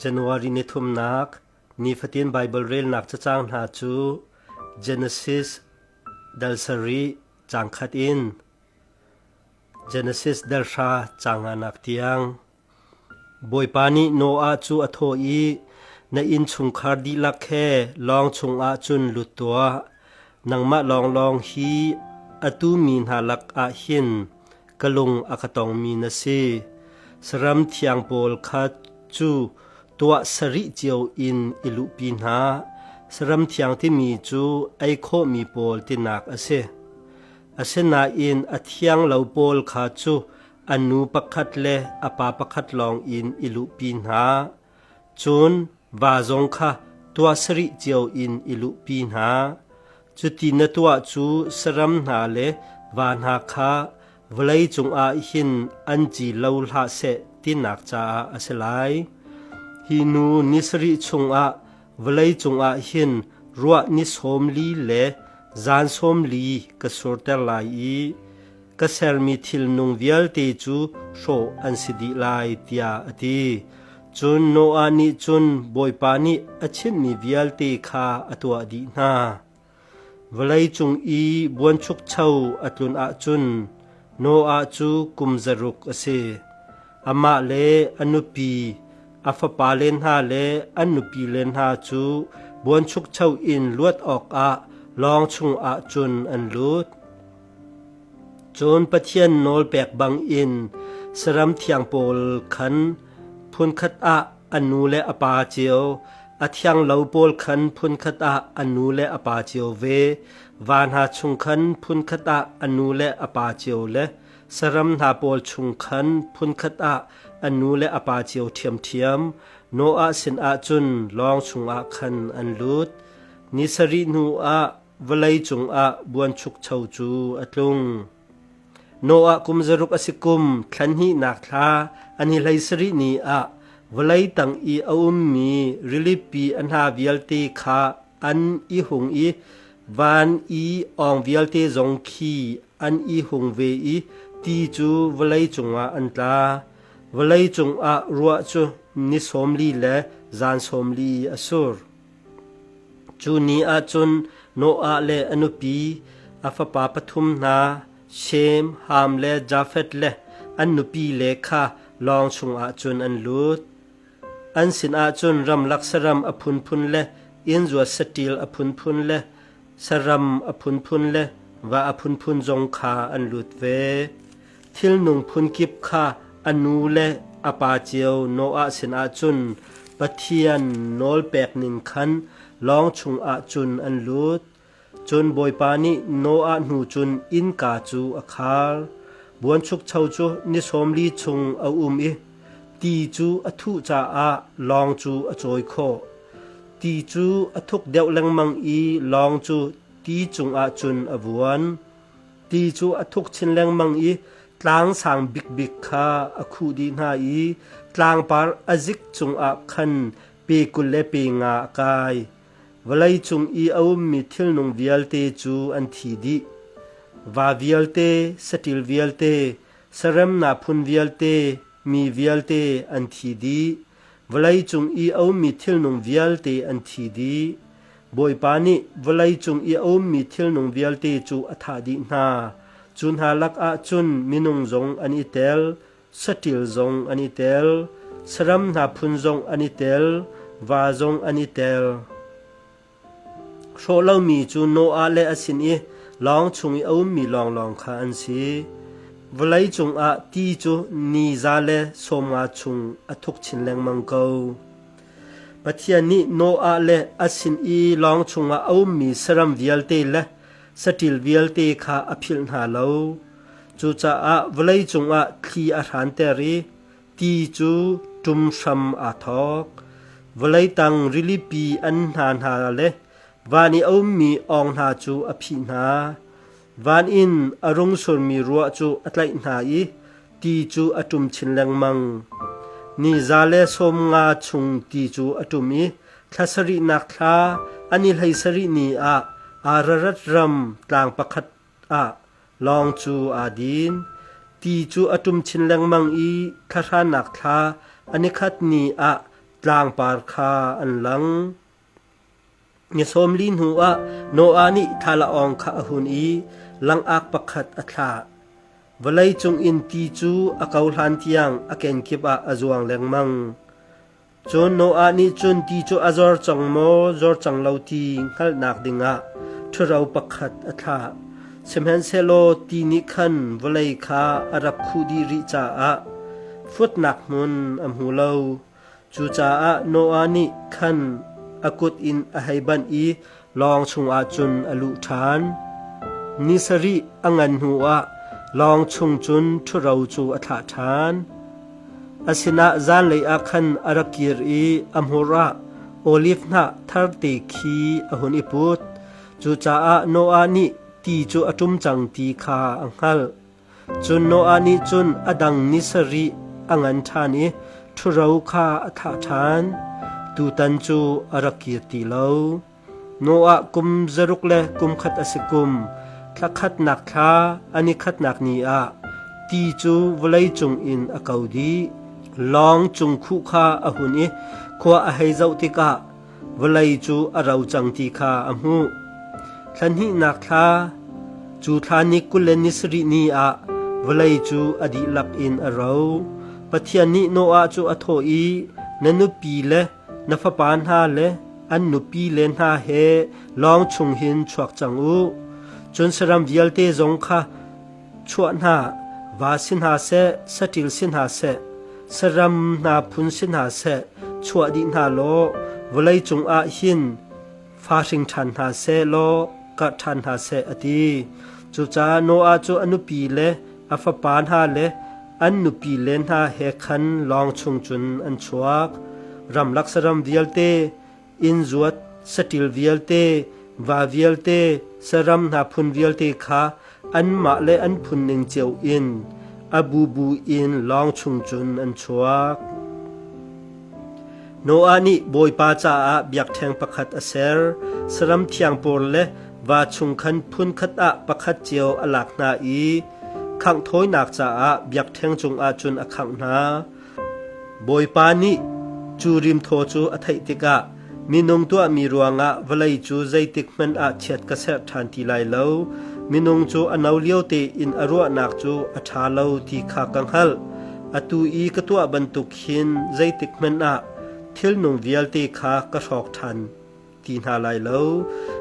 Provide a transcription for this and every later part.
January ni thumnak nifatin Baibal relnak cacang hna cu Genesis dal sarih caang khat in Genesis dal hra caang nganak tiang Bawipa nih Noah cu a thawh i na innchungkhar dihlak he lawng chungah cun lut tuah Nangmah lawnglawng hi atu mi hna lakah hin ka lung a ka tongmi na si. Saram thiang pawl kha cu tuah sarih cio in i luhpi hna. Saram thiang timi cu ei khawhmi pawl tinak a si. Asinain a thiang lo pawl kha cu a nu pakhat le a pa pakhat lawng in i luhpi hna. Cun va zong kha tuah sarih cio in i luhpi hna. Cuti na tuah cu saram hna le va hna kha vawlei cungah hin an ci lo hlah seh tinak caah a si lai. Hi nu ni sarih chungah vawlei cungah hin ruah ni sawm li le zan sawm li ka surter lai i ka sermi thilnung vialte cu hrawh an si dih lai tiah a ti. Cun Noah nih cun Bawipa nih a chimmi vialte kha a tuah dih hna. Vawlei cung i buanchukcho a tlun ahcun Noah cu kum zaruk a si. Amah le a nupi, a fapale hna le an nupile hna cu buanchukcho in luat awkah lawng chungah cun an lut. Cun Pathian nawl pek bangin saram thiang pawl khan phunkhat ah a nu le a pa cio, a thianglo pawl khan phunkhat ah a nu le a pa cio ve, va hna chung khan phunkhat ah a nu le a pa cio le saram hna pawl chung khan phunkhat ah a nu le a pa cio ṭhiamṭhiam, Noah sinah cun lawng chungah khan an lut. Ni sarih hnuah Vawlei cungah buanchukcho cu a tlung. Noah kum zaruk a si kum thlanhnihnak thla an i hlei sarih ni ah vawlei tang i a ummi rilipi a hna vialte kha an i hung i van i awng vialte zong khi an i hung ve i ti cu vawlei cungah an tla. Vawlei cungah ruah cu ni sawm li le zan sawm li a sur. Cu ni ah cun Noah le a nupi, a fapa pathum hna Shem, Ham le Jafeth le an nupile kha lawng chungah cun an lut. An sinah cun ramlak saram a phunphun le innzuat saṭil a phunphun le saram a phunphun le va a phunphun zong kha an lut ve. thilnung phunkip kha a nu le a pa cio Noah sinah cun Pathian nawlpekning khan lawng chungah cun an lut. Cun Bawipa nih Noah hnu cun innka cu a khar. Buanchukcho cu ni sawmli chung a um i ti cu a thuh caah lawng cu a cawi khawh. Ti cu a thuk deuh lengmang i lawng cu ti cungah cun a vuan. ti cu a thuk chin lengmang i tlang sang bikbik kha a khuh dih hna i tlangpar a zik cungah khan pe kul le pe nga a kai. Vawlei cung i a ummi thilnung vialte cu an thi dih. Va vialte, saṭil vialte, saremna phun vialte, mi vialte an thi dih. Vawleicung i a ummi thilnung vialte an thi dih. Bawipa nih vawleicung i a ummi thilnung vialte cu a thah dih hna. Cu hna lakah cun minung zong an i tel, saṭil zong an i tel, saram hna phun zong an i tel, va zong an i tel. Hrawh lomi cu Noah le a sin i lawng chung i a ummi lawnglawng kha an si. Vawlei cungah ti cu ni za le sawmnga chung a thuk chin lengmang ko. Pathian nih Noah le a sin i lawng chungah a ummi saram vialte le saṭil vialte kha a philh hna lo. Cucaah vawlei cungah thli a hranter i ti cu ṭum hram aa thawk. Vawlei tang rilipi an hna hna le van i a ummi awng hna cu a phih hna. Van in a rung surmi ruah cu a tlaih hna i ti cu a ṭum chin lengmang. Ni za le sawm nga chung ti cu a ṭum i thla sarihnak thla, a ni hlei sarih ni ah Ararat ram tlang pakhat ah lawng cu aa din. Ti cu a ṭum chin lengmang i thlahranak thla a nikhat ni ah tlangpar kha an lang. Ni sawm li hnuah Noah nih thlalaawng kha a hun i langak pakhat a thlah. Vawlei cung in ti cu a kohlan tiang a kenkip ah a zuang lengmang. Cun Noah nih cun ti cu a zor cang maw, zor cang lo ti hngalhnak dingah ṭhuro pakhat a thlah. Sihmanhsehlaw ti nih khan vawlei kha a rak khuh dih rih caah futnak hmun a hmu lo. Cucaah Noah nih khan a kut in a hei banh i lawng chungah cun a luh ṭhan. Ni sarih a ngan hnuah lawng chung cun ṭhuro cu a thlah ṭhan. A sinah zanlei ah khan a ra kir i a hmur ah olif hnah tharte khi a hun i put. Cucaah Noah nih ti cu a ṭum cang ti kha a hngalh. Cun Noah nih cun a dang ni sarih a ngan ṭhan i ṭhuro kha a thah ṭhan. Tutan cu a ra kir ti lo. Noah kum zaruk le kum khat a si kum, thla khatnak thla, a ni khatnak ni ah ti cu vawlei cungin a ko dih. Lawng cung khuh kha a hun i khua a hei zoh tikah vawlei cu a ro cang ti kha a hmuh. Thla hnihnak thla, cu thla ni kul le ni sarih ni ah vawlei cu a dihlak in a ro. Pathian nih Noah cu a thawh i, Na nupi le na fapa hna le an nupi le hna he lawng chung hin chuak cang u. Cun saram vialte zong kha Chuah hna, va si hna seh, saṭil si hna seh, saram hna phun si hna seh, chuah dih hna law vawlei cungah hin fa hring ṭhan hna seh law karh ṭhan hna seh, a ti. Cucaah Noah cu a nupi le a fapa hna le an nupi le hna he khan lawng chung cun an chuak. Ramlak saram vialte, inn zuat, saṭil vialte, va vialte, saram hna phun vialte kha anmah le an phunning cio in a bubu in lawng chung cun an chuak. Noah nih Bawipa caah biakṭheng pakhat a ser, saram thiang pawl le va chung khan phunkhat ah pakhat cio a lak hna i khangh thawinak caah biakṭheng cungah cun a khangh hna. Bawipa nih cu rimthaw cu a theih tikah minung tuahmi ruangah vawlei cu zeitikhmanh ah chiat ka serh ṭhan ti lai lo. Minung cu a no lio tein a ruahnak cu a ṭha lo ti kha ka hngalh. Atu i ka tuah bantuk hin zeitikhmanh ah thilnung vialte kha ka hrawk ṭhan. ti hna lai lo.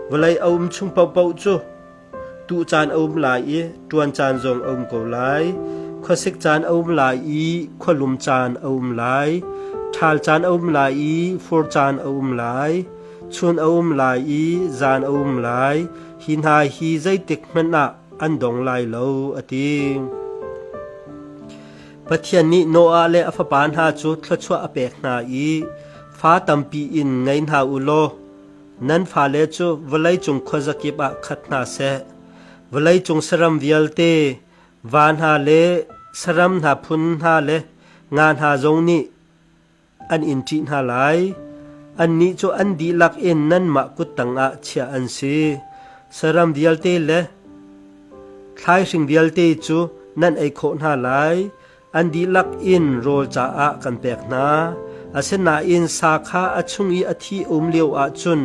Vawlei a um chung paohpaoh cu tuh caan a um lai i ṭuan caan zong a um ko lai. Khuasik caan a um lai i khualum caan a um lai. Ṭhal caan a um lai i fur caan a um lai. Chun a um lai i zan a um lai. Hi hna hi zeitik hmanh ah an dong lai lo, a ti. Pathian nih Noah le a fapa hna cu thluachuah a pek hna i Fa tampi in ngei hna u law nan fale cu vawleicung khuazakip ah khat hna seh. Vawleicung saram vialte, va hna le saram hna phun hna le nga hna zong nih an in ṭih hna lai. Annih cu an dihlak in nanmah kut tangah chiah an si. Saram vialte le thlaihhring vialte cu nan ei khawh hna lai. An dihlak in rawl caah kan pek hna, asinain sa kha a chung i a thi um lio ahcun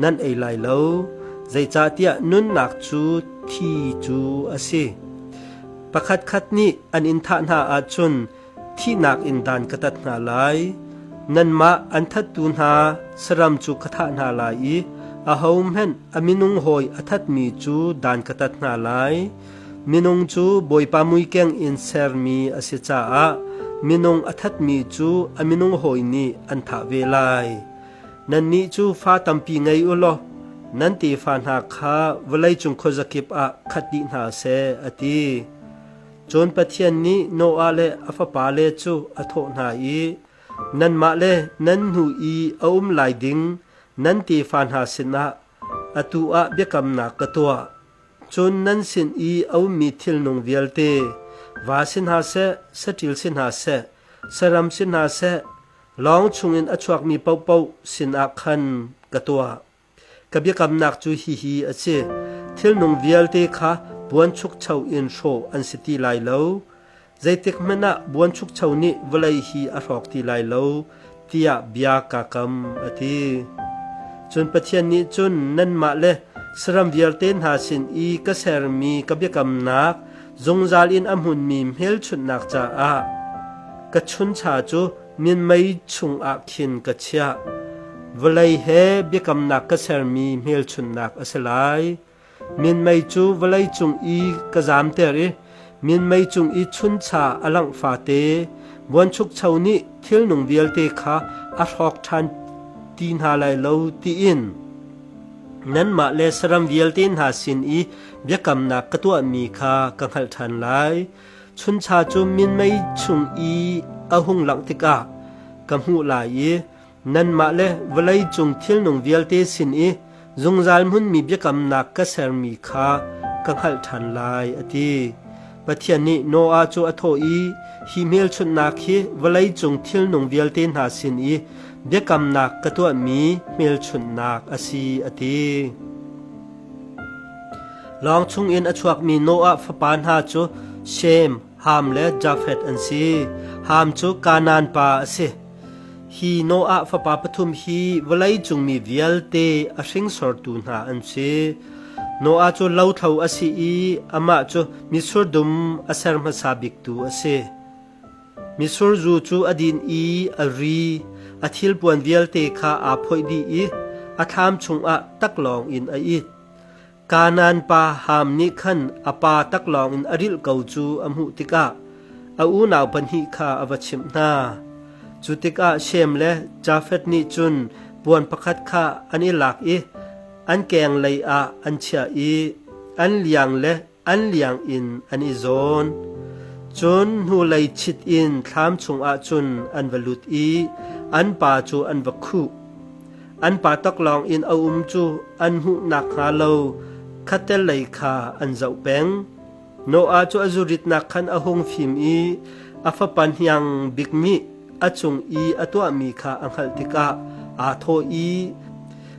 nan ei lai lo, zeicahtiah nunnak cu thi cu a si. Pakhatkhat nih an in thah hna ahcun thihnak in dan ka tat hna lai. Nanmah an thattu hna saram cu ka thah hna lai i ahohmanh a minung hawi a thatmi cu dan ka tat hna lai. Minung cu Bawipa muikeng in sermi a si caah minung a thatmi cu a minung hawi nih an thah ve lai. Nannih cu fa tampi ngei u law nan tefa hna kha vawleicung khuazakip ah khat dih hna seh, a ti. Cun Pathian nih Noah le a fapale cu a thawh hna i, Nanmah le nan nu i a um lai ding nan tefa hna sinah Atu ah biakamnak ka tuah. Cun nan sin i a ummi thilnung vialte, va si hna seh, saṭil si hna seh, saram si hna seh, lawng chungin a chuakmi paohpaoh sinah khan ka tuah. Ka biakamnak cu hihi a si: thilnung vialte kha puanchukcho in hrawh an si ti lai lo. Zeitikhmanh ah Buanchukcho nih vawlei hi a hrawk ti lai lo, tiah bia kaa kam, a ti. Cun Pathian nih cun nanmah le saram vialte hna sin i ka sermi ka biakamnak zungzal in a hmunmi hmelchunhnak caah ka chuncha cu minmei chungah khin ka chiah. Vawlei he biakamnak ka sermi hmelchunhnak a si lai. Minmei cu vawlei cung i ka zamter i minmei cung i chuncha a langh fate, buanchukcho nih thilnung vialte kha a hrawk ṭhan ti hna lai lo, tiin nanmah le saram vialte hna sin i biakamnak ka tuahmi kha ka hngalh ṭhan lai. Chuncha cu minmei chung i a hung langh tikah ka hmuh lai i Nanmah le vawlei cung thilnung vialte sin i zungzal hmunmi biakamnak ka sermi kha ka hngalh ṭhan lai, a ti. Pathian nih Noah cu a thawh i, Hi hmelchunhnak hi vawlei cung thilnung vialte hna sin i biakamnak ka tuahmi hmelchunhnak a si, a ti. Lawng chungin a chuakmi Noah fapa hna cu Shem, Ham le Jafeth an si. Ham cu Kanaan pa a si. Hi Noah fapa pathum hi vawleicung mi vialte a hringsortu hna an si. Noah cu lothlo a si i amah cu mitsur dum a ser hmasa biktu a si. Mitsur zu cu a din i a ri, a thilpuan vialte kha aa phoih dih i a thlam chungah taklawng in a it. Kanaan pa Ham nih khan a pa taklawng in a rilh ko cu a hmuh tikah a unau pahnih kha a va chimh hna. Cu tikah Shem le Jafeth nih cun puan pakhat kha an i lak i an kenglei ah an chiah i an liang le an liang in an i zawn. Cun hnulei chit in thlam chungah cun an va lut i an pa cu an va khuh. An pa taklawng in a um cu an hmuh nakhnga lo khatel lei kha an zoh peng. Noah cu a zuritnak khan a hung fim i a fapa hniang bik nih a cung i a tuahmi kha a hngalh tikah aa thawh i,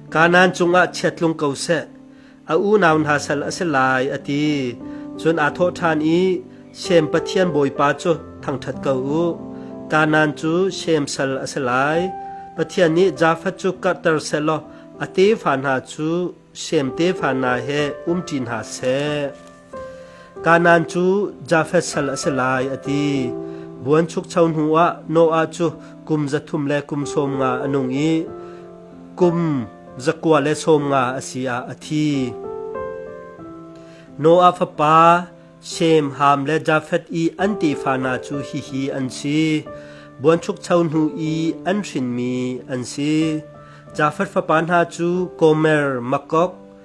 Kanaan cungah chia tlung ko seh. a unau hna sal a si lai, a ti. Cun aa thawh ṭhan i, Shem pathian bawipa cu thangṭhat ko u. Kanaan cu Shem sal a si lai. Pathian nih Jafet cu karhter sehlaw a tefa hna cu Shem tefa hna he um ṭi hna seh. Kanaan cu Jafeth sal a si lai, a ti. Buanchukcho hnuah Noah cu kum za thum le kum sawm nga a nung i kum za kua le sawm nga a si ah a thi. Noah fapa Shem, Ham le Jafeth i an tefa hna cu hihi an si: buanchukcho hnu i an hrinmi an si. Jafeth fapa hna cu Gomer, Makok,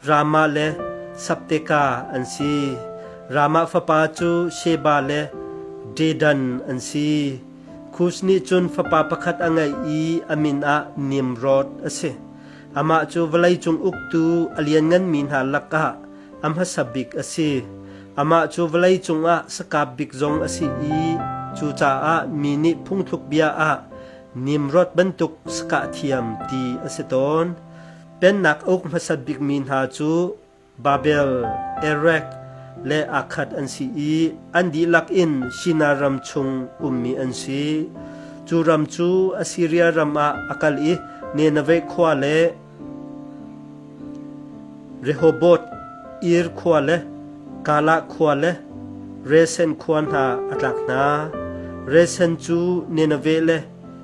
Ramah le Sabteka an si. Ramah fapa cu Sheba le Dedan an si. Kus nih cun fapa pakhat a ngeih i a min ah Nimroth a si. Amah cu vawleicung uktu a liannganmi hna lakah a hmasa bik a si. Amah cu vawleicung ah sakap bik zong a si i cucaah mi nih phungthluk bia ah Nimroth bantuk sakah thiam ti a si tawn. Pennak uk hmasat bikmi hna cu Babel, Erek le Akhat an si i an dihlak in Shinar ram chung ummi an si. Cu ram cu Assiria ram ah a kal i Nineveh khua le Rehoboth Ir khua le Kalah khua le Resen khua hna a tlak hna. Resen cu Nineveh le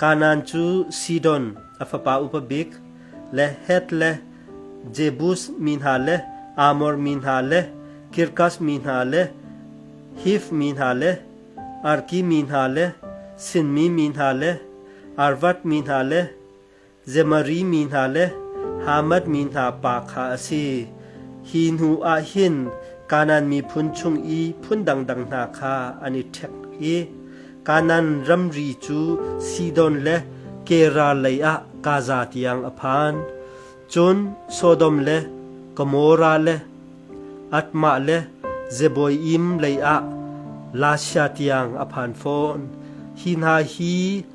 Kanaan cu Sidon a fapa upa bik le Heth le Jebus mi hna le Amor mi hna le Girgas mi hna le Hif mi hna le Arki mi hna le Sinmi mi hna le Arvad mi hna le Zemari mi hna le Hamad mi hna pa kha a si. Hi hnuah hin Kanaan miphun chung i phun dangdang hna kha an i ṭhek i Kanaan ramri cu Sidon le Gerar leiah Gaza tiang a phan. Cun Sodom le Gomorrah le Admah le Zeboiim leiah Lasha tiang a phan fawn. Hi hna hi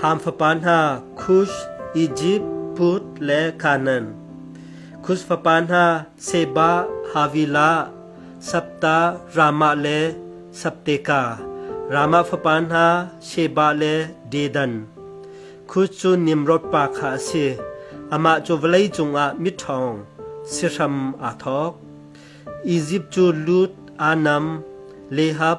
Ham fapa hna Kush, Ijipt, Put le Kanaan. Kush fapa hna Seba, Havilah, Sabta, Ramah le Sabteka. Ramah fapa hna Sheba le Dedan. Kush cu Nimrod pa kha a si. Amah cu vawlei cungah miṭhawng sihram aa thawk. Izipt cu Lud, Anam, Lehab,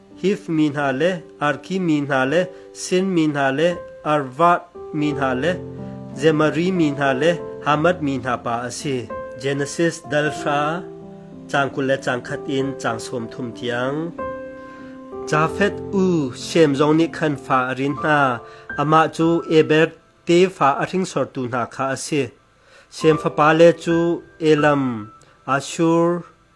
Hif mi hna le Arki mi hna le Sin mi hna le Arvath mi hna le Zemari mi hna le Hamath mi hna pa a si. Genesis dal hra cang kul le cang khat in cang sawm thum tiang. Jafeth u Shem zong nih khan fa a rin hna. Amah cu Eber tefa a hringsortu hna kha a si. Shem fapa le cu Elam, Ashur,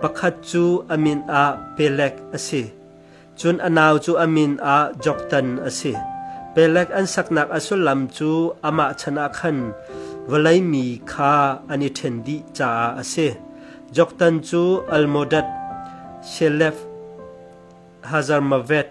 Pakhat cu a min ah Peleg a si, cun a nau cu a min ah Joktan a si. Peleg an saknak a sullam cu amah chanah khan vawlei mi kha an i ṭhen dih caah a si. Joktan cu Almodad, Shelef, Hazarmaveth,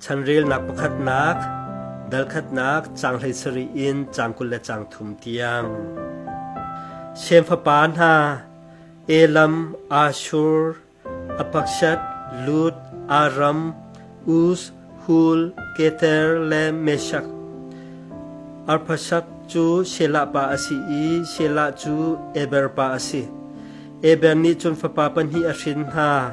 Chanrelnak pakhatnak, dalkhatnak caang hleisarih in caang kul le caang thum tiang. Shem fapa hna, Elam, Ashur, Apakshat, Lud, Aram, Uz, Hul, Kether le Meshak. Arphashad cu Shelah pa a si i Shelah cu Eber pa a si. Eber nih cun fapa pahnih a hrin hna.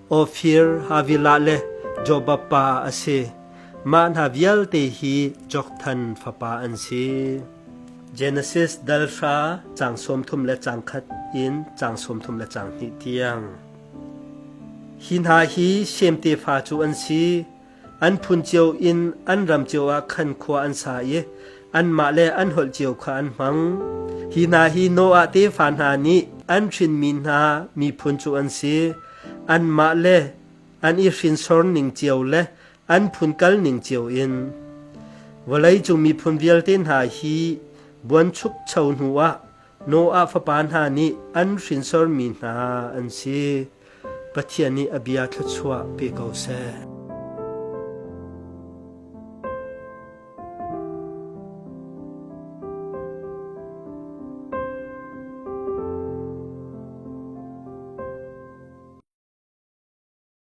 Ofir, Havilah le Jobappa a si. Mah hna vialte hi Jokthan fapa an si. Genesis dal hra cang sawmthum le cang khat in cang sawmthum le cang hnih tiang. Hi hna hi Sem tefa cu an si. An phun cio in an ram cio ah khan khua an sa i anmah le an holh cio kha an hmang. Hi hna hi Noah tefa hna nih an hrinmi hna miphun cu an si. Anmah le an i hrinsor ning cio le an phun kal ning cio in vawleicung miphun vialte hna hi buanchukcho hnuah Noah fapa hna nih an hrinsormi hna an si. Pathian nih a bia thluachuah pe ko seh.